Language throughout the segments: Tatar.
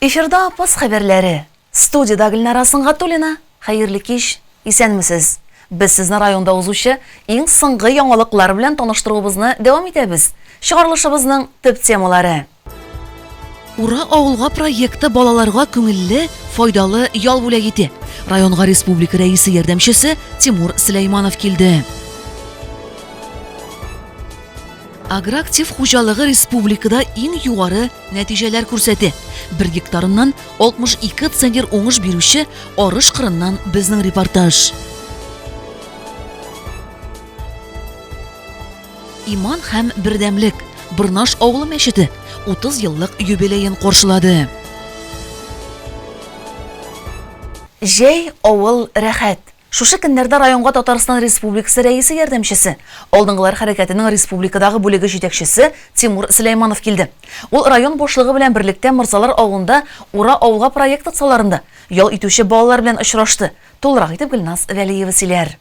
Эфирда апас хәбәрләре. Студияда Гөлнара Сынгатуллина. Хәерле кич. Исәнмесез. Без сезне районда узучы иң соңгы яңалыклар белән таныштыруыбызны дәвам итәбез. Чыгарылышыбызның төп темалары. Ура авылга проекты балаларга күңелле, файдалы ял бүләк итә. Районга республика рәисе ярдәмчесе Тимур Сөләйманов килде. Агроактив хуҗалыгы республикада иң югары нәтиҗәләр күрсәтә. Бер гектарыннан 62 центнер уңыш бирүче арыш кырыннан безнең репортаж. Иман һәм бердәмлек Бырнаш авылы мәчете 30 еллык юбилеен каршылады. Җәй, авыл, рәхәт! Шушы көннәрдә районга Татарстан Республикасы Рәисе ярдәмчесе, Алдынгылар хәрәкәтенең республикадагы бүлеге җитәкчесе Тимур Сөләйманов килде. Ул район башлыгы белән берлектә Морзалар авылында Ура авылга проекты кысаларында ял итүче балалар белән очрашты. Тулырак итеп Гөлназ Вәлиева сөйләр.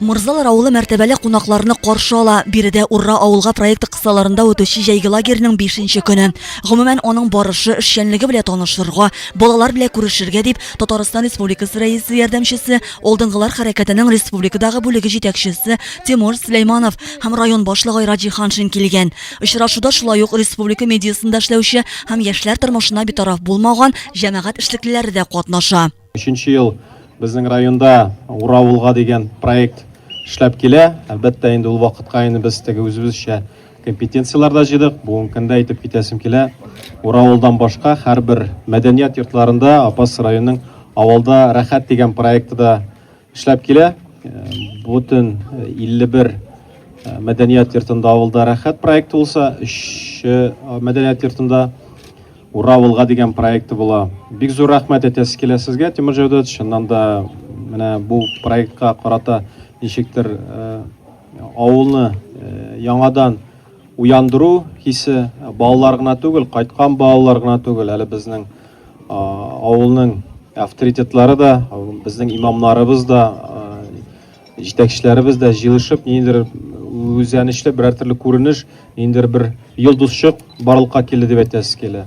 Мырзалар авылы мәртәбәле кунакларны каршы ала. Биредә Урра авылга проекты кысаларында үтүче җәйге лагерьның 5 көне. Гомумән, аның барышы, эшчәнлеге белән танышырга, балалар белән күрешергә дип Татарстан Республикасы Рәисе ярдәмчесе Алдынгылар хәрәкәтенең республикадагы бүлеге җитәкчесе Тимур Сөләйманов һәм район башлыгы Айраҗи Ханшин килгән. Очрашуда шулай ук республика медиасында эшләүче һәм яшьләр тормышына битараф булмаган җәмәгать эшлеклеләре дә катнаша. Өченче ел безнең районда Ура улга дигән проект эшләп килә. Әлбәттә, инде ул вакытка инде без теге үзебезчә Компетенцияләр дә җыйдык. Бүгенге көндә әйтеп китәсем килә, Уравылдан башка һәрбер мәдәният йортларында Апас районының авылда рәхәт дигән проекты да эшләп килә. Бүтән 51 мәдәният йортында авылда рәхәт проекты булса, 3 мәдәният йортында Уравылга дигән проекты була. Бик зур рәхмәт әйтәсе килә сезгә, Тимур Җәүдәт, чыннан да менә бу проектка карата ничектер Авылны яңадан уяндыру хисе балалар гына түгел, кайткан балалар гына түгел, әле безнең авылның авторитетлары да, безнең имамнарыбыз да, җитәкчеләребез дә җыелышып, ниндидер үзәнечле берәр төрле күренеш, ниндидер бер йолдызчык барлыкка килде дип әйтәсе килә.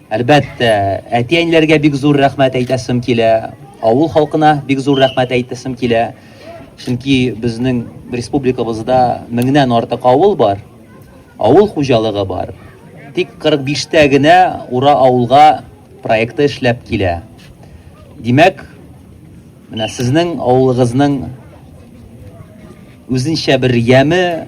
Әлбәттә, әти-әниләргә бик зур рәхмәт әйтәсем килә, авыл халкына бик зур рәхмәт әйтәсем килә. Чөнки безнең республикабызда меңнән артык авыл бар, авыл хуҗалыгы бар. Тик 45 тә генә Ура авылга проекты эшләп килә. Димәк, менә сезнең авылыгызның үзенчә бер яме,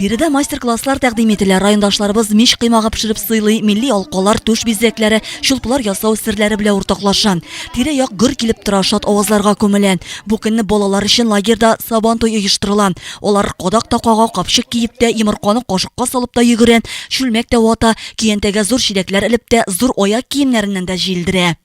Биредә мастер-класслар тәкъдим ителә. Райондашларыбыз мич кыймагы пешереп сыйлый, милли алкалар, түш бизәкләре, чулплар ясау серләре белән уртаклаша. Тирә-як гөр килеп тора, шат авазларга күмелә. Бу көнне балалар өчен лагерьда Сабан туй оештырыла. Алар кадак та кага, капчык киеп тә, йомырканы кашыкка салып та йөгерә, чүлмәк тә вата, көянтәгә зур чиләкләр элеп тә, зур аяк киемнәреннән дә җилдерә.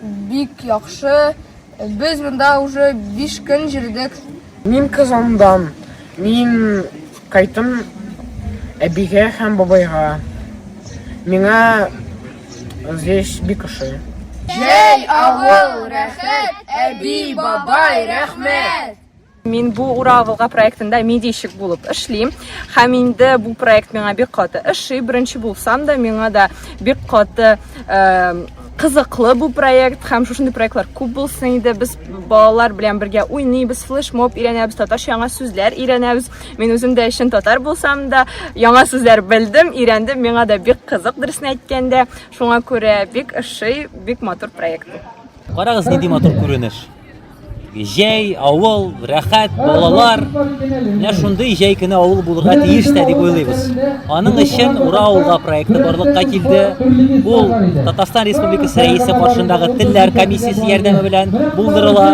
Бик яхшы. Без монда уже биш көн йөрдек. Мин Казандан. Мин кайтым әбигә һәм бабайга. Миңа здесь бик ошый. Җәй, авыл, рәхәт, әби, бабай, рәхмәт! Мин бу Ура Волга проектында медийщик булып эшлим. Һәм инде бу проект миңа бик каты ошый. Беренче булсам да, миңа да бик каты кызыклы бу проект һәм шушындый проектлар күп булсын иде. Без балалар белән бергә уйныйбыз, флешмоб өйрәнәбез, татарча яңа сүзләр өйрәнәбез. Мин үзем дә чын татар булсам да, яңа сүзләр белдем, өйрәндем. Миңа да бик кызык дөресен әйткәндә. Шуңа күрә бик ошый, бик матур проект. Карагыз нинди матур күренеш. Җәй, авыл, рәхәт, балалар. Менә шундый җәй көне авыл булырга тиеш тә дип уйлыйбыз. Аның өчен Ура авылга проекты барлыкка килде. Ул Татарстан Республикасы рәисе каршындагы телләр комиссиясе ярдәме белән булдырыла.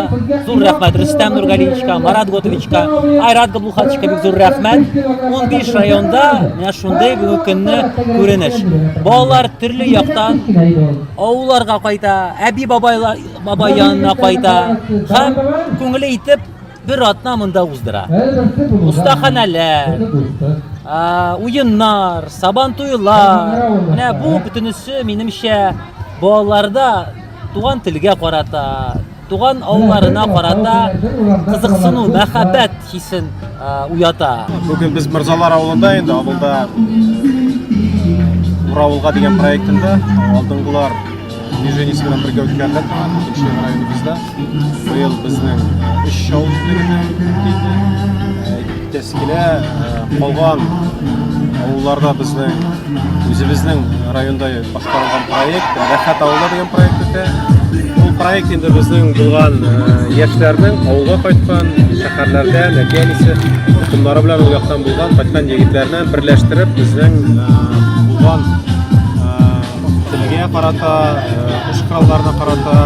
Зур рәхмәт Рөстәм Нургалиевичка, Марат Готовичка, Айрат Габлухатовичка бик зур рәхмәт. 15 районда менә шундый бүгенге көнне күренеш. Балалар төрле яктан Авылларга кайта, әби бабайлар бабай янына кайта һәм күңеле итеп бер атна монда уздыра. Остаханәләр, уеннар, сабан туйлар. Менә бу бөтенесе минемчә балаларда туган телгә карата, Туган авылларына карата кызыксыну, мәхәббәт хисен уята. Бүген без Мирзалар авылында инде, авылда Уравылга дигән проектында алдынгылар движение сигнал бергә үткәрелә торган икенче районыбызда быел безнең өч шау үзлегенә килде Тәскилә калган авылларда безнең үзебезнең районда башкарылган проект Рәхәт авылы дигән проект үтә. Бу проект инде безнең булган яшьләрнең авылга кайткан, шәһәрләрдә, нәтиҗәсе токымнары белән ул яктан булган, кайткан егетләрне берләштереп, безнең булган Телгә карата, куш э, коралларына карата,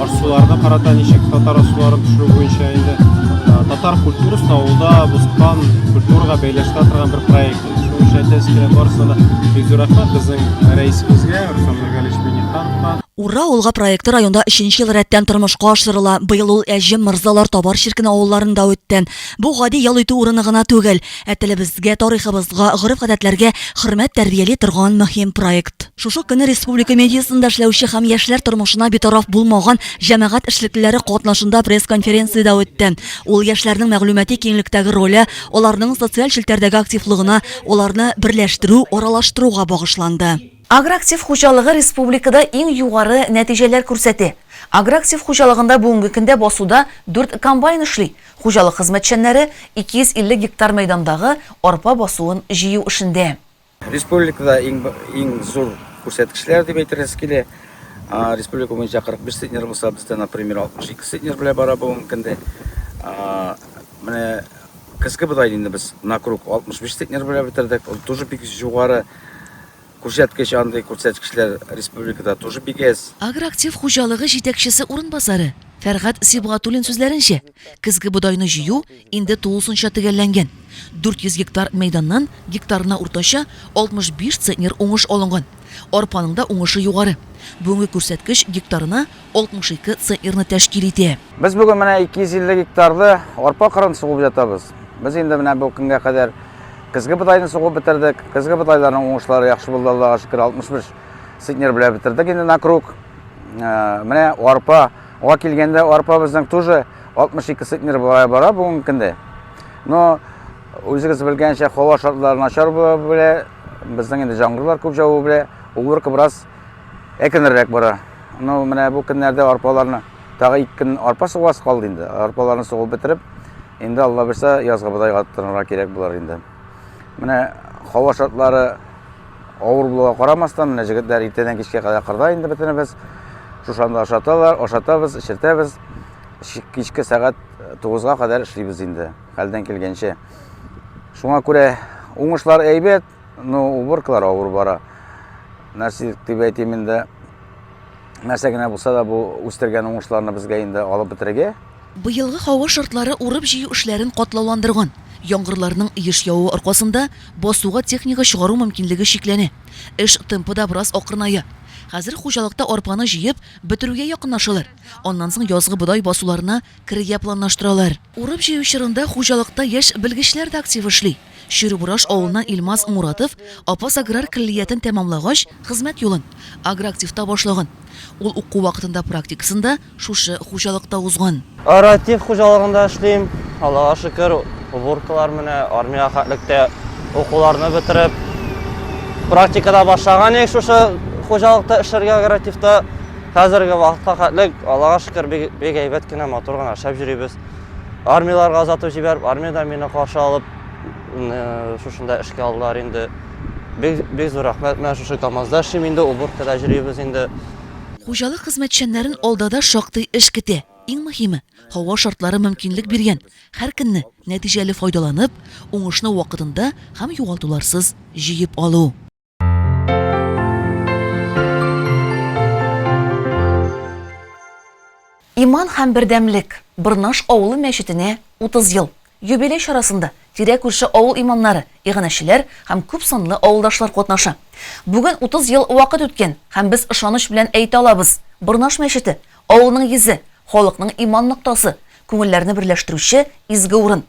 ашсуларына карата ничек татар ашсуларын төшерү буенча инде э, татар культурасын авылда бозкан культураға бәйләштерә торган бер проект. Шуның өчен әйтәсе килә барысына да бик зур рәхмәт безнең рәисебезгә Руслан Миргалевич Минихановка. Ура улга проекты районда өченче ел рәттән тормышка ашырыла. Быел ул Әҗем, Мырзалар, Табар чиркене авылларында үтте. Бу гади ял итү урыны гына түгел. Ә телебезгә, тарихыбызга, гореф-гадәтләргә хөрмәт тәрбияли торган мөһим проект. Шушы көнне республика медиасында эшләүче һәм яшьләр тормышына битараф булмаган җәмәгать эшлеклеләре катнашында пресс-конференция дә үтте. Ул яшьләрнең мәгълүмати киңлектәге роле, аларның социаль челтәрдәге активлыгына, аларны берләштерү, аралаштыруга багышланды. Агроактив хуҗалыгы республикада иң югары нәтиҗәләр күрсәтә. Агроактив хуҗалыгында бүгенге көндә басуда дүрт комбайн эшли. Хуҗалык хезмәтчәннәре 250 гектар мәйдандагы арпа басуын җыю эшендә. Республикада иң зур күрсәткечләр дип әйтергез килә. Республика буенча 45 центнер булса, бездә, например, 62 центнер белән бара бу мөмкинде. Менә көзге бодайды инде без на круг 65 центнер белән бетердек. Ул тоже бик югары Күрсәткеч андый күрсәткечләр республикада тоже бик әз. Агроактив хуҗалыгы җитәкчесе урынбасары Фәргать Сибгатуллин сүзләренчә, көзге бодайны җыю инде тулысынча төгәлләнгән. 400 гектар мәйданнан гектарына уртача 65 центнер уңыш алынган. Арпаның да уңышы югары. Бүгенге күрсәткеч гектарына 62 центнерны тәшкил итә. Без бүген менә 250 гектарды арпа кырын сугып ятабыз. Без инде менә бу көнгә кадәр көзге бодайны сугып бетердек. Көзге бодайларның уңышлары яхшы булды, Аллага шөкер, 65 центнер белән бетердек инде на круг. Э, менә арпа Га килгәндә арпа безнең тоже 62 центнер бара бара бүгенге көндә. Но үзегез белгәнчә, һава шартлары начар була белә, безнең инде җаңгырлар күп җавы белә, уборка бераз Әкенеррәк бара. Ну, менә бу көннәрдә арпаларны тагы ике көн арпа сугас калды инде. Арпаларны сугып бетереп, инде Алла берсә язгы бодайга тотынырга кирәк булар инде. Менә һава шартлары авыр булуга карамастан, менә җегетләр иртәдән кичкә кадәр кырда инде бөтенебез. Шушанда ашаталар, ашатабыз, эчертәбез. Кичке сәгать 9-га кадәр эшлибез инде, хәлдән килгәнчә. Шуңа күрә уңышлар әйбәт, Ну, уборкалар авыр бара. Нәрсә дип әйтим инде. Нәрсә генә булса да бу үстергән уңышларны безгә инде алып бетерергә. Быелгы һава шартлары урып-җыю эшләрен катлауландырган. Яңгырларның еш явуы аркасында басуга техника чыгару мөмкинлеге чикләнә. Эш темпы да бераз акрыная. Хәзер хуҗалыкта арпаны җыеп бетерүгә якынлашалар. Аннан соң язгы бодай басуларына керергә планлаштыралар. Урып-җыю чорында хуҗалыкта яшь белгечләр дә актив эшли. Чүребураш авылыннан Илмаз Муратов Апас аграр көллиятен тәмамлагач, хезмәт юлын Агроактивта башлаган. Ул уку вакытында практикасын да шушы хуҗалыкта узган. Агроактив хуҗалыгында эшлим. Аллага шөкер, уборкалар менә, армиягә хәтлек тә укуларны бетереп, практикада башлаган идек шушы хуҗалыкта эшләргә, агроактивта. Хәзерге вакытка хәтлек, Аллага шөкер, бик әйбәт кенә, матур гына эшләп йөрибез. Армияләргә озатып җибәреп, армиядән мине каршы алып, шушында эшкә алдылар инде. Бик, бик зур рәхмәт. Менә шушы КАМАЗда эшлим инде, уборкада җөрибез инде. Хуҗалык хезмәтчәннәрен алда да шактый эш көтә. Иң мөһиме, һава шартлары мөмкинлек биргән, һәр көнне нәтиҗәле файдаланып, уңышны вакытында һәм югалтуларсыз җыеп алу. Иман һәм бердәмлек Бырнаш авылы мәчетенә 30 ел. Юбилей чарасында тирә күрше авыл иманнары, иганәчеләр һәм күп санлы авылдашлар катнаша. Бүген 30 ел вакыт үткән һәм без ышаныч белән әйтә алабыз, Бырнаш мәчете, авылның йөзе, халыкның иман ноктасы, күңелләрне берләштерүче изге урын.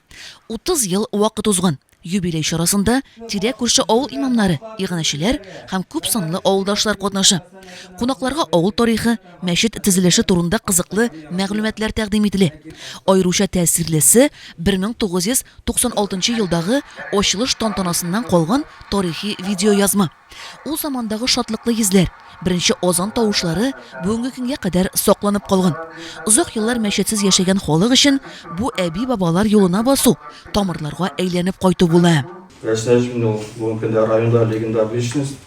30 ел вакыт узган. Юбилей чарасында тирә-күрше авыл имамнары, иганәчеләр һәм күп санлы авылдашлар катнаша. Кунакларга авыл тарихы, мәчет төзелеше турында кызыклы мәгълүматлар тәкъдим ителә. Аеруча тәэсирлесе, 1996 елдагы ачылыш тантанасыннан калган тарихи видеоязма. Ул замандагы шатлыклы йөзләр, беренче азан тавышлары бүгенге көнгә кадәр сакланып калган. Озак еллар мәчетсез яшәгән халык өчен бу әби-бабалар юлына басу, тамырларга әйләнеп кайту була. Рәсәй өчен ул бүгенге көндә районда легендар личность.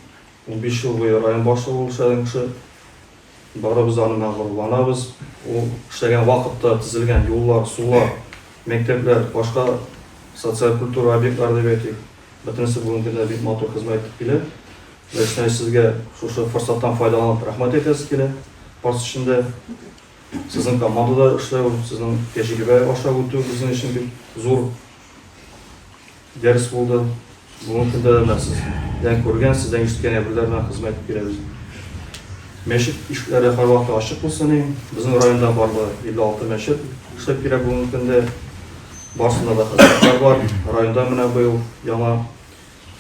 Унбиш ел буе район башлыгы булып эшләгән кеше. Барыбыз да аннан горурланабыз. Ул эшләгән вакытта төзелгән юллар, сулар, мәктәпләр, башка социаль-культура объектлары дип әйтик. Бөтенесе бүгенге көндә бик матур хезмәт итеп килә. Ләйсәнәй сезгә шушы форсаттан файдаланып рәхмәт әйтәсе килә. Парс эчендә сезнең командада эшләү, сезнең тәҗрибә аша үтү безнең өчен бик зур дәрес булды. Бүгенге көндә дә менә сездән күргән, сездән ишеткән әйберләр белән хезмәт итеп киләбез. Мәчет ишекләре һәрвакыт ачык булсын иң. Безнең районда барлыгы 56 мәчет эшләп килә бүгенге көндә. Барсында да хәзрәтләр бар. Районда менә быел яңа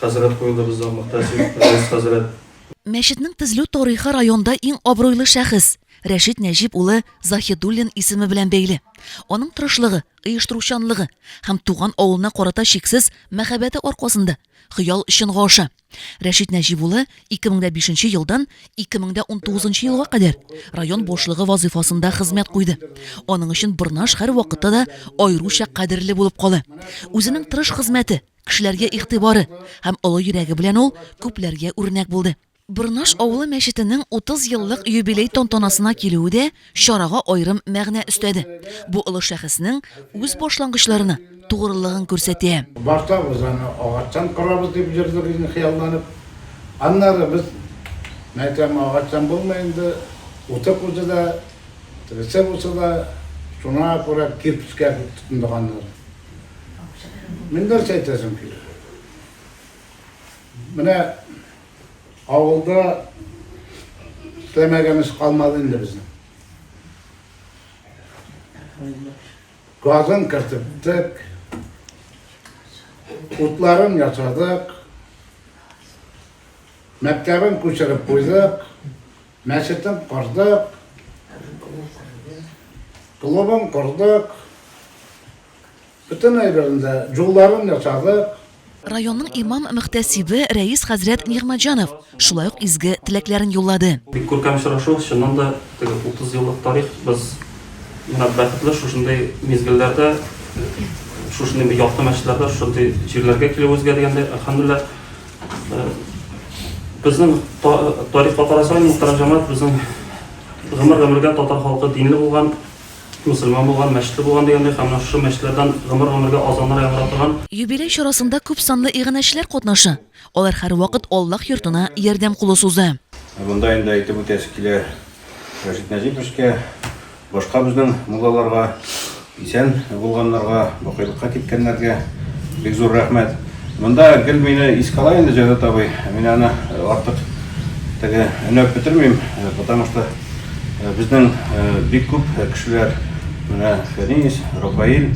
хәзрәт куелды безнең Мөхтәсиб Рәис хәзрәт. Мәчетнең төзелү тарихы районда иң абруйлы шәхес, Рәшит Нәҗип улы Заһидуллин исеме белән бәйле. Аның тырышлыгы, оештыручанлыгы һәм туган авылына карата чиксез мәхәббәте аркасында хыял чынга аша. Рәшит Нәҗип улы 2005 елдан 2019 елга кадәр район башлыгы вазыйфасында хезмәт куйды. Аның өчен Борнаш һәрвакытта да аеруча кадерле булып кала. Үзенең тырыш хезмәте, кешеләргә игътибары һәм олы йөрәге белән ул күпләргә үрнәк булды. Борнаш авылы мәчетенең 30 еллык юбилей тантанасына килүе дә чарага аерым мәгънә өстәде. Бу олы шәхеснең үз башлангычларына тугрылыгын күрсәтә. Башта без аны агачтан корабыз дип җөрдек инде хыялланып. Аннары без, мәйтәм, агачтан булмый инде, уты кузы да, тегесе бусы да, шуңа күрә кирпечкә дип тотындык аннары. Мин нәрсә әйтәсем килә, менә. Авылда эшләмәгәнебез калмады инде безнең. Газын кертептек, утларын ясадык, мәктәбен күчереп куйдык, мәчетен кордык, клубын кордык, Бөтен әйберен дә, юлларын ясадык. Районның имам-мөхтәсибе Рәис хәзрәт Нигъмәтҗанов шулай ук изге теләкләрен юллады. Бик күркәм очрашу, чыннан да, теге 30 еллык тарих, без менә бәхетле шушындый мизгелләрдә, шушындый бер якты мәчетләрдә, шушындый җирләргә килүебезгә дигәндәй, әлхәмдүлилләһ. Безнең тарихка карасаң, мөхтәрәм җәмәгать, безнең гомер-гомергә татар халкы динле булган. Мөселман булган, мәчете булган дигәндәй һәм менә шушы мәчетләрдән гомер-гомергә азаннар яңгырап торган. Юбилей чарасында күп санлы иганәчеләр катнаша. Алар һәрвакыт Аллаһ йортына ярдәм кулы суза. Ә монда инде әйтеп үтәсе килә Рәшит Нәҗиповскә, башка безнең муллаларга, исән булганнарга, бакыйлыкка киткәннәргә бик зур рәхмәт. Монда гел мине искә ала инде Җәүдәт абый, мин аны артык теге өнәп бетермим, потому что. Безнең бик күп кешеләр менә Фәнис, Рафаил,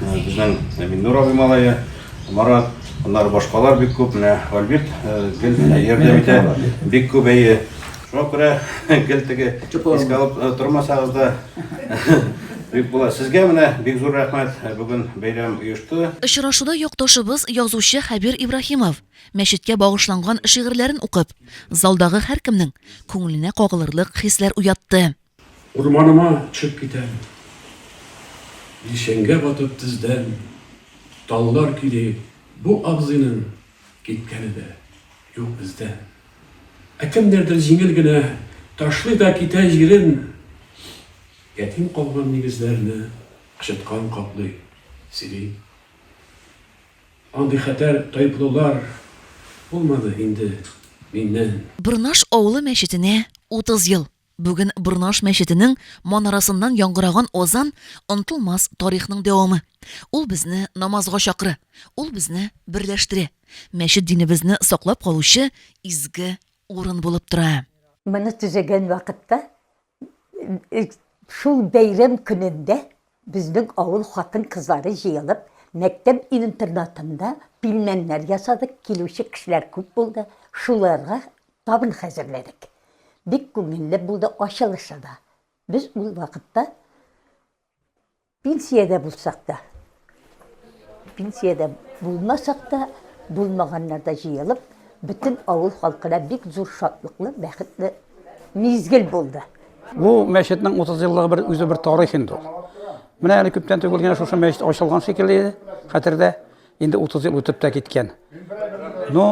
безнең Миннур абый малае, Марат, аннары башкалар бик күп, менә Альберт гел ярдәм итә, бик күп әйе. Шуңа күрә гел теге искә алып тормасагыз да бик була. Сезгә менә бик зур рәхмәт, бүген бәйрәм оешты. Очрашуда якташыбыз, язучы Хәбир Ибраһимов, мәчеткә багышланган шигырьләрен укып, залдагы һәркемнең күңеленә кагылырлык хисләр уятты. Урманыма төшеп китәм. Илчәнгә батып тездән Таллар көйли Бу абзыйның киткәне дә юк бездән. Ә кемнәрдер җиңел генә Ташлый да китә җирен. Ятим калган нигезләрне Кычыткан каплый, сөйли. Андый хәтәр тайплылар булмады инде миннән. Борнаш авылы мәчетенә 30 ел! Бүген Борнаш мәчетенең манарасыннан яңгыраган азан, онтылмас тарихның дәвамы. Ул безне намазга чакыра, ул безне берләштерә. Мәчет динебезне саклап калучы изге урын булып тора. Моны төзегән вакытта Шул бәйрәм көнендә безнең авыл хатын-кызлары җыелып, мәктәп интернатында пилмәннәр ясадык, килүче кешеләр күп булды, шуларга табын хәзерләдек. Бик күңелле булды ачылышы да. Без ул вакытта Пенсиядә булсак та, пенсиядә булмасак та, булмаганнар да җыелып, бөтен авыл халкына бик зур шатлыклы, бәхетле мизгел булды. Бу мәчетнең 30 еллыгы бер үзе бер тарих инде ул. Менә әле күптән түгел генә шушы мәчет ачылган шикелле иде, хәтердә. Инде 30 ел үтеп тә киткән. Ну,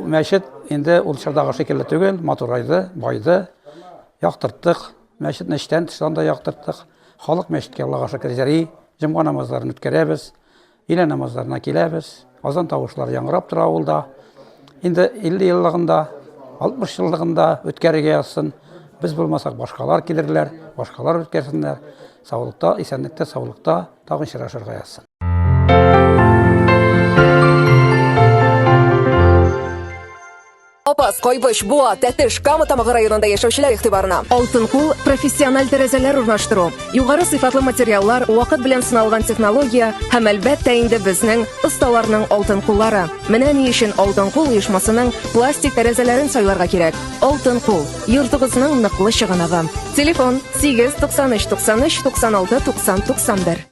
мәчет инде ул чордагы шикелле түгел, матурайды, байды, яктырттык, Мәчетне эчтән тыштан да яктырттык. Халык мәчеткә Аллага шөкер җыри, җомга намазларын үткәрәбез, өйлә намазларына киләбез. Азан тавышлары яңгырап тора авылда. Инде 50 еллыгында, 60 еллыгында үткәрергә язсын. Без булмасак, башкалар килерләр, башкалар үткәрсеннәр. Саулыкта, исәнлектә, саулыкта тагын очрашырга язсын. Апас, Кайбыч, Буа, Тәтеш, Кама Тамагы районында яшәүчеләр игътибарына. Алтын кул профессиональ тәрәзәләр урнаштыру, югары сыйфатлы материаллар, вакыт белән сыналган технология һәм әлбәттә инде безнең осталарның алтын куллары. Менә ни өчен Алтын кул оешмасының пластик тәрәзәләрен сайларга кирәк. Алтын кул, йортыгызның ныклы чыганагы. Телефон 8 93 93 96 90 91.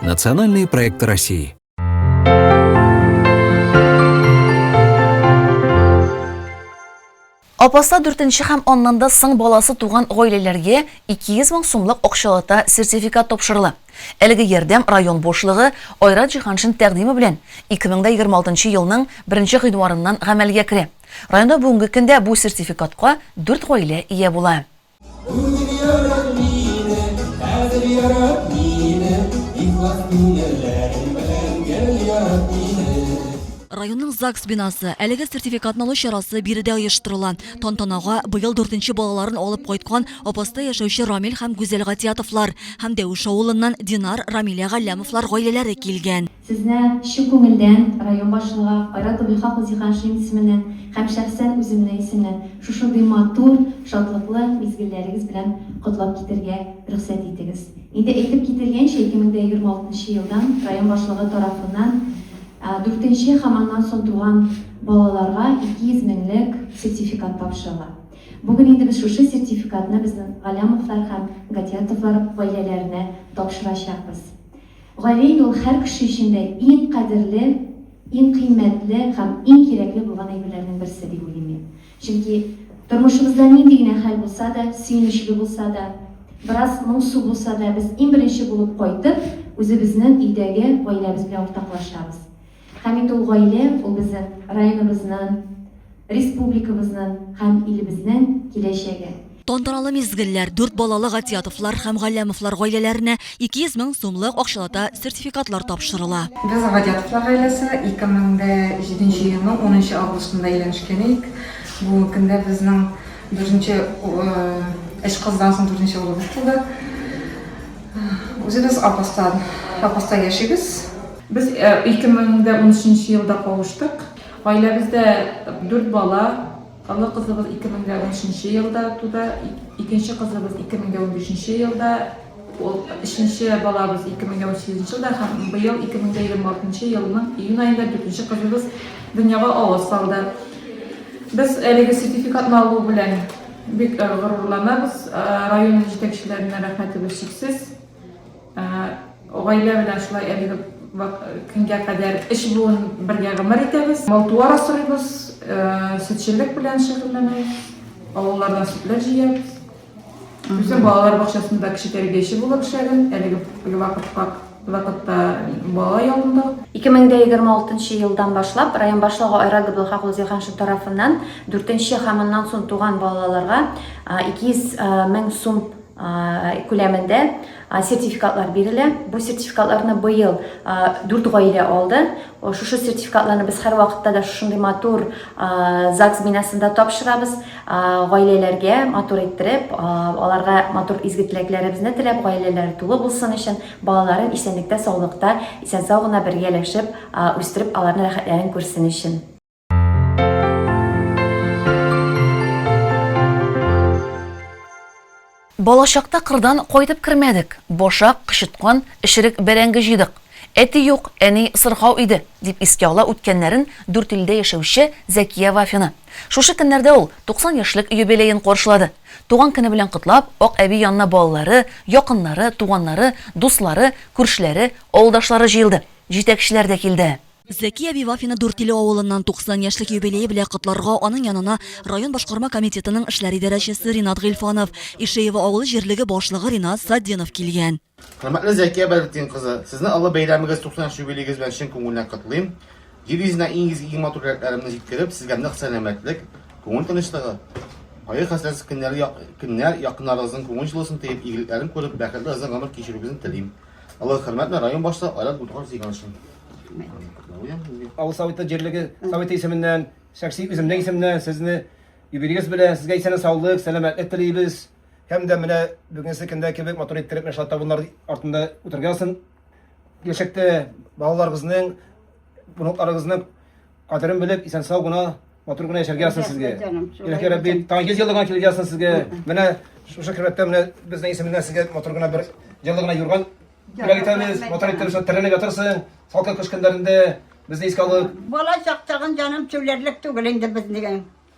Национальные проекты России. Апаса дүртенче һәм аннан да соң баласы туган гаиләләргә 200 мең сумлык акчалата сертификат тапшырылы. Әлеге ярдәм район башлыгы Айрат Җиһаншин тәкъдиме белән 2026 елның 1 гыйнварыннан гамәлгә керә. Районда бүгенге көндә бу сертификатка 4 гаилә ия була. Районның ЗАГС бинасы. Әлеге сертификатны алу чарасы биредә оештырыла. Тантанага быел дүртенче балаларын алып кайткан Апаста яшәүче Рамил һәм Гүзәл Гатиятовлар һәм Дәвеш авылыннан Динар, Рамилә Галләмовлар гаиләләре килгән. Сезне чын күңелдән район башлыгы Айрат Гөлхак Зиһаншин исеменнән һәм шәхсән үземнең исемнән шушындый матур, шатлыклы мизгелләрегез белән котлап китәргә рөхсәт итегез. Инде әйтеп кителгәнчә, 2026 нчы елдан район башлыгы тарафыннан дүртенче һәм аннан соң туган балаларга 200 меңлек сертификат тапшырыла. Бүген инде без шушы сертификатны безнең Галләмовлар һәм Гатиятовлар гаиләләренә тапшырачакбыз. Гали юл һәр кеше өчен дә иң кадерле, иң кыйммәтле һәм иң кирәкле булган әйберләрнең берсе, дип уйлыйм мин. Чөнки тормышыбызда нинди генә хәл булса да, сөенечле булса да, бераз моңсу булса да, без иң беренче булып кайтып, үзебезнең өйдәге гаиләбез белән уртаклашабыз. Һәм инде ул гаилә, ул безнең районыбызның, республикабызның һәм илебезнең киләчәге. Тантаналы мизгелләр дүрт балалы Гатиятовлар һәм Галләмовлар гаиләләренә 200 мең сумлык акчалата сертификатлар тапшырыла. Без Гатиятовлар гаиләсе 2007 нче елның 10 нчы августында өйләнешкән идек. Бүгенге көндә безнең дүртенче, өч кыздан соң дүртенче улыбыз туды. Үзебез апаста яшибез. Без 2013 нче елда кавыштык. Гаиләбездә дүрт бала, олы кызыбыз 2013 нче елда туды, икенче кызыбыз 2015 нче елда, ул өченче балабыз 2018 нче елда һәм быел 2026 нчы елның июнь аенда дүртенче кызыбыз дөньяга авыз салды. Без әлеге сертификатны алу белән бик горурланабыз, район җитәкчеләренә рәхмәтебез чиксез. Гаилә белән шулай әлеге көнгә кадәр өч буын бергә гомер итәбез. Мал-туар асрыйбыз, сөтчелек белән шөгыльләнәбез, авыллардан сөтләр җыябыз. Үзем балалар бакчасында кече тәрбияче булып эшләдем, әлеге вакытта балалар явында. 2026 нчы елдан башлап район башлыгы Айрат Габделхакулы Зилханшин тарафыннан дүртенче һәм аннан соң туган балаларга 200 мең сум күләмендә сертификатлар бирелә. Бу сертификатларны быел дүрт гаилә алды. Шушы сертификатларны без һәрвакытта да шушындый матур ЗАГС бинасында тапшырабыз. Гаиләләргә матур иттереп, аларга матур изге теләкләребезне теләп, гаиләләре тулы булсын өчен, балаларын исәнлектә, саулыкта, исән-сау гына бергәләшеп үстереп, аларның рәхәтләрен күрсен өчен. Балачакта кырдан кайтып кермәдек. Башак, кычыткан, эчерек бәрәңге җыйдык. Әти юк, әни сырхау иде, дип искә ала үткәннәрен Дүртөйледә яшәүче Зәкия Вафина. Шушы көннәрдә ул 90 яшьлек юбилеен каршылады. Туган көне белән котлап, Ак әби янына балалары, якыннары, туганнары, дуслары, күршеләре, авылдашлары җыелды. Җитәкчеләр дә килде. Зәки әби Вафины Дүртиле авылыннан 90 яшьлек юбилее белән котларга аның янына район башкарма комитетының эшләр идарәчесе Ринат Гыйльфанов, Ишеево авылы җирлеге башлыгы Ринат Сатдинов килгән. Хөрмәтле Зәкия Бәдретдин кызы, сезне олы бәйрәмегез, 90 яшь юбилеегез белән чын күңелнән котлыйм. Җир йөзенә иң изге, иң матур теләкләремне җиткереп, сезгә нык сәламәтлек, күңел тынычлыгы, кайгы-хәсрәтсез көннәр, якыннарыгызның күңел җылысын тоеп, игелекләрен күреп, бәхетле озын гомер кичерүегезне телим. Алар хөрмәтне район башлыгы Айрат Булдыган җыйган өчен. Авыл советы җирлеге советы исеменнән, шәхси үземнең исемнән сезне юбилеегыз белән сезгә исән саулык, сәламәтлек телибез. Һәм дә менә бүгенге көндә кебек матур иттереп менә шулай табыннар артында үтергәнсен. Киләчәктә балаларыгызның, внукларыгызның Кадерен белеп, исән сау гына, матур гына яшәргә язсын сезгә. Иләһи Рәбби, таңгыз еллыгына килеп язсын сезгә. Менә шушы кирәктә менә безнең исемнән сезгә матур гына бер җылы гына юрган бүләк итәбез. Матур итеп шул тәрәнлек ятырсың. Салкын кыш көннәрендә безне искә алып. Бала чактагын җаным чүләрлек түгел инде безнең.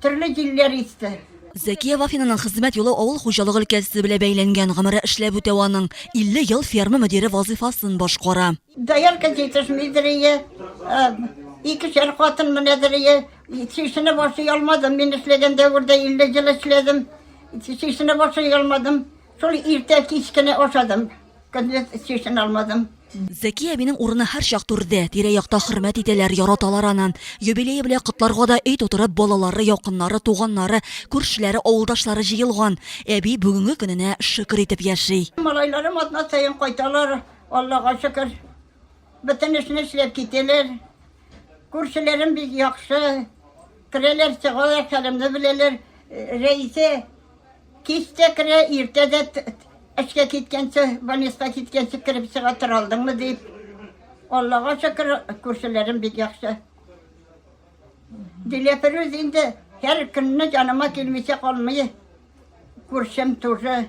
Төрле җилләр исте. Зәкия Вафинаның хезмәт юлы авыл хуҗалык өлкәсе белән бәйләнгән. Гомере эшләп үтә аның. 50 ел ферма мөдире вазыйфасын башкара. Доярка җитешмидер ие. Икешәр хатын менәдер ие. Чишенеп ашый алмадым. Мин эшләгән дәвердә 50 ел эшләдем. Чишенеп ашый алмадым. Шул иртә кич кенә ашадым. Көндез чишен алмадым. Зәки әбинең урыны һәрчак түрдә. Тирә-якта хөрмәт итәләр, яраталар аны. Юбилее белән котларга да өй тутырып балалары, якыннары, туганнары, күршеләре, авылдашлары җыелган. Әби бүгенге көненә шөкер итеп яши. Малайларым атна саен кайталар, Аллага шөкер. Бөтен эшне эшләп китәләр. Күршеләрем бик яхшы. Керәләр, чыгалар, хәлемне беләләр. Рәисә Кичтә керә, иртә дә эшкә киткәнче, больниска киткәнче кереп чыга тора алдыңмы дип. Аллага шөкер, күршеләрем бик яхшы. Диләфирүз инде һәр көнне җаныма килмичә калмый. Күршем тоже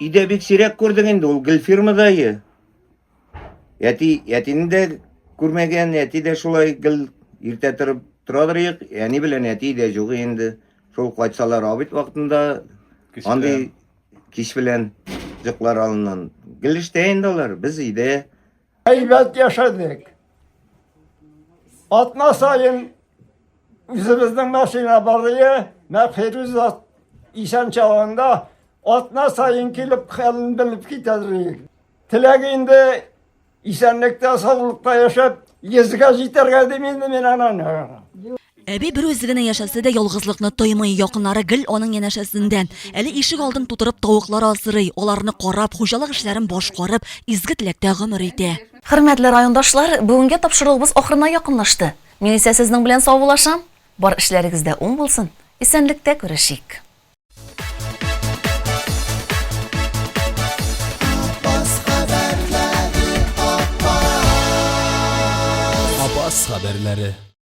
Өйдә бик сирәк күрдең инде, ул гел фирмадайы. Әти, әтине дә күрмәгән, әти дә шулай гел иртә торып торадыр ек, әни белән әти дә юк инде. Шул кайтсалар абит вакытында андый кич белән җыклар алыннан. Гел эштә инде алар, без өйдә. Әйбәт яшәдек. Атна сайын үзебезнең машина барые Мәхфирүзат исән чагында атна сайын килеп хәлен белеп китәдер. Теләк инде исәнлектә, саулыкта яшәп, йөзгә җитәргә дим инде мин ананы. Әби бер үзе генә яшәсә дә ялгызлыкны тоймый, якыннары гел аның янәшәсендә. Әле ишек алдын тутырып тавыклар асрый, аларны карап, хуҗалык эшләрен башкарып, изге теләктә гомер итә. Хөрмәтле райондашлар, бүгенге тапшыруыбыз ахырына якынлашты. Мин исә сезнең белән саубулашам. Бар эшләрегез дә уң булсын. Исәнлектә күрешик. Апас хәбәрләре.